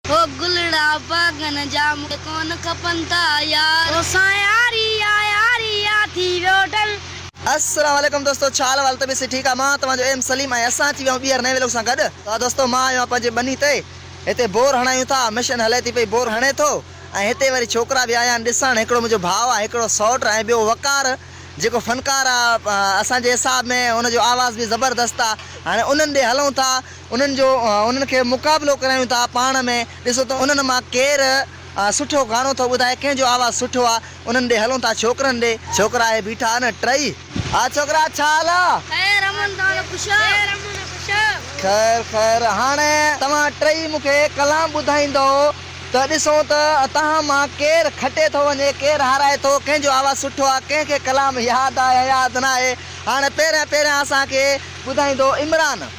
هو گلڙا باغن جا مون کي ڪونه کپن ٿا يار. توسان ياري آ ياري آ ٿي ويو ڍل. السلام عليڪم دوستو ڇا حال احوال طبيعت سڀ ٺيڪ آ مان توهان جو ايم سليم ۽ اسان اچي ويا آهيون ٻيهر نئين ولاگ سان گڏ ته دوستو مان آيو آهيان پنهنجي ٻني تي هتي بور هڻايون ٿا مشين هلي ٿي پئي بور هڻي ٿو ۽ هتي وري ڇوڪرا به آيا آهن ڏسڻ هڪڙو منهنجو ڀاء آهي هڪڙو سئوٽ ۽ ٻيو وقار جيڪو فنڪار آ اسان جي حساب ۾ ان جو آواز به زبردست آ هاڻي انهن ڏي هلون ٿا انهن جو انهن کي مقابلو ڪرايون ٿا پاڻ ۾ ڏسو ته انهن مان ڪير سٺو گانو ٿو ٻڌائي ڪنهن جو آواز سٺو آ انهن ڏي هلون ٿا ڇوڪرن ڏي ڇوڪرا اهي بيٺا آهن ٽئي آ ڇوڪرا ڇا حال آ خير امن تان خوش آ خير امن خوش آ خير خير هاڻي توهان ٽئي مون کي ڪلام ٻڌائيندئو ته ڏسون ته توهان مان ڪير کٽي ٿو وڃي ڪير هارائي ٿو ڪنهن جو آواز سٺو آ ڪنهن کي ڪلام ياد آ يا ياد ناهي هاڻي پهريان پهريان اسان کي ٻڌائيندو عمران.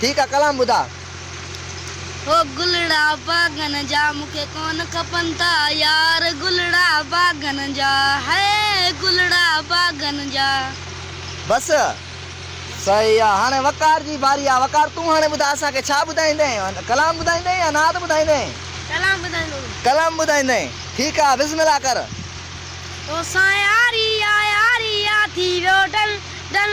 ٺيڪ آ ڪلام ٻڌاء. هو گلڙا باغن جا مون کي ڪونه کپن ٿا يار گلڙا باغن جا هئي گلڙا باغن جا. بس صحيح آ هاڻي وقار جي باري آ وقار تون هاڻي ٻڌاء اسان کي ڇا ٻڌائيندين ڪلام ٻڌائيندين يا نعت ٻڌائيندين. ڪلام ٻڌائيندو. ڪلام ٻڌائيندين ٺيڪ آ بسم الله ڪر. توسان ياري آ ياري آ ٿي ويو ڊل ڊل.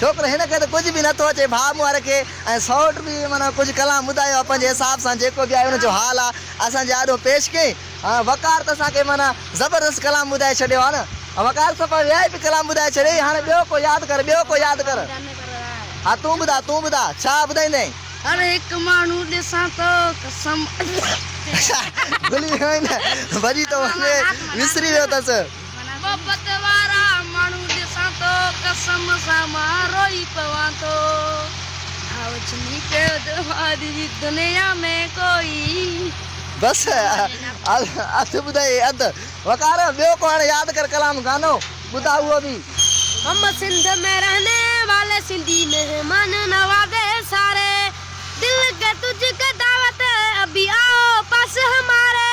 ڇوڪرو هن کي ته ڪجهه به نه ٿو اچي ڀاء مونهاري کي ۽ سئوٽ به معنيٰ ڪجهه ڪلام ٻڌايو آهي پنهنجي حساب سان جيڪو به آهي ان جو حال آهي اسان جي آڏو پيش ڪيائين ۽ وقار ته اسان کي معنيٰ زبردست ڪلام ٻڌائي ڇڏيو آهي نه وقار صفا ويائي به ڪلام ٻڌائي ڇڏيائين هاڻي ٻيو ڪو ياد ڪر ٻيو ڪو ياد ڪر ها تون ٻڌاء تون ٻڌاء ڇا ٻڌائيندين. هر هڪ ماڻهو ڏسان ٿو قسم. اڇا گلي هيروئن ڀڄي ٿو وڃي وسري ويو اٿس. محبت وارا ماڻهو ڏسان ٿو قسم سان مان روئي پوان ٿو ڀاء چمي پيو ته ماضي جي دنيا ۾ ڪوئي. بس اڌ ٻڌائي اڌ وقار ٻيو ڪو هاڻي ياد ڪر ڪلام گانو ٻڌاء اهو به. هم سنڌ مين رهني والي سنڌي مهمان نوازي ساري دل ڪي تجھ ڪي دعوت ابي آو پاس هماري.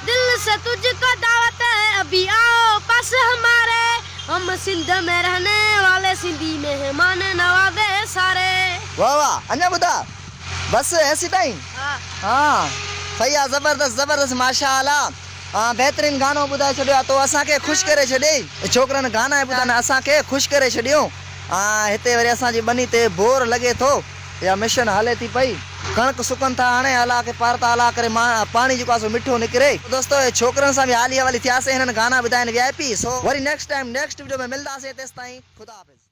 دل سي تجھ ڪو دعوت هي ابهي آو پاس هماري هم سنڌ مين رهني والي سنڌي مهمان نوازي ساري. واھ واھ اڃا ٻڌاء بس هيسي تائين ها صحيح آ زبردست زبردست ماشاءالله ها بهترين گانو ٻڌائي ڇڏيو آ تو اسان کي خوش ڪري ڇڏيئي ڇوڪرن گانا ٻڌائي اسان کي خوش ڪري ڇڏيون ها هتي وري اسان جي ٻني تي بور لڳي ٿو. اها مشين هلي ٿي پئي. ڪڻڪ سڪن ٿا هڻي هلا کي پار ٿا هلا ڪري مان پاڻي جيڪو آهي سو مٺو نڪري. تو دوستو اهي ڇوڪرن سان به حالي حوالي ٿياسين هنن گانا ٻڌائين وي آء پي سو وري نيڪسٽ ٽائيم نيڪسٽ وڊيو ۾ ملداسين تيستائين خدا حافظ.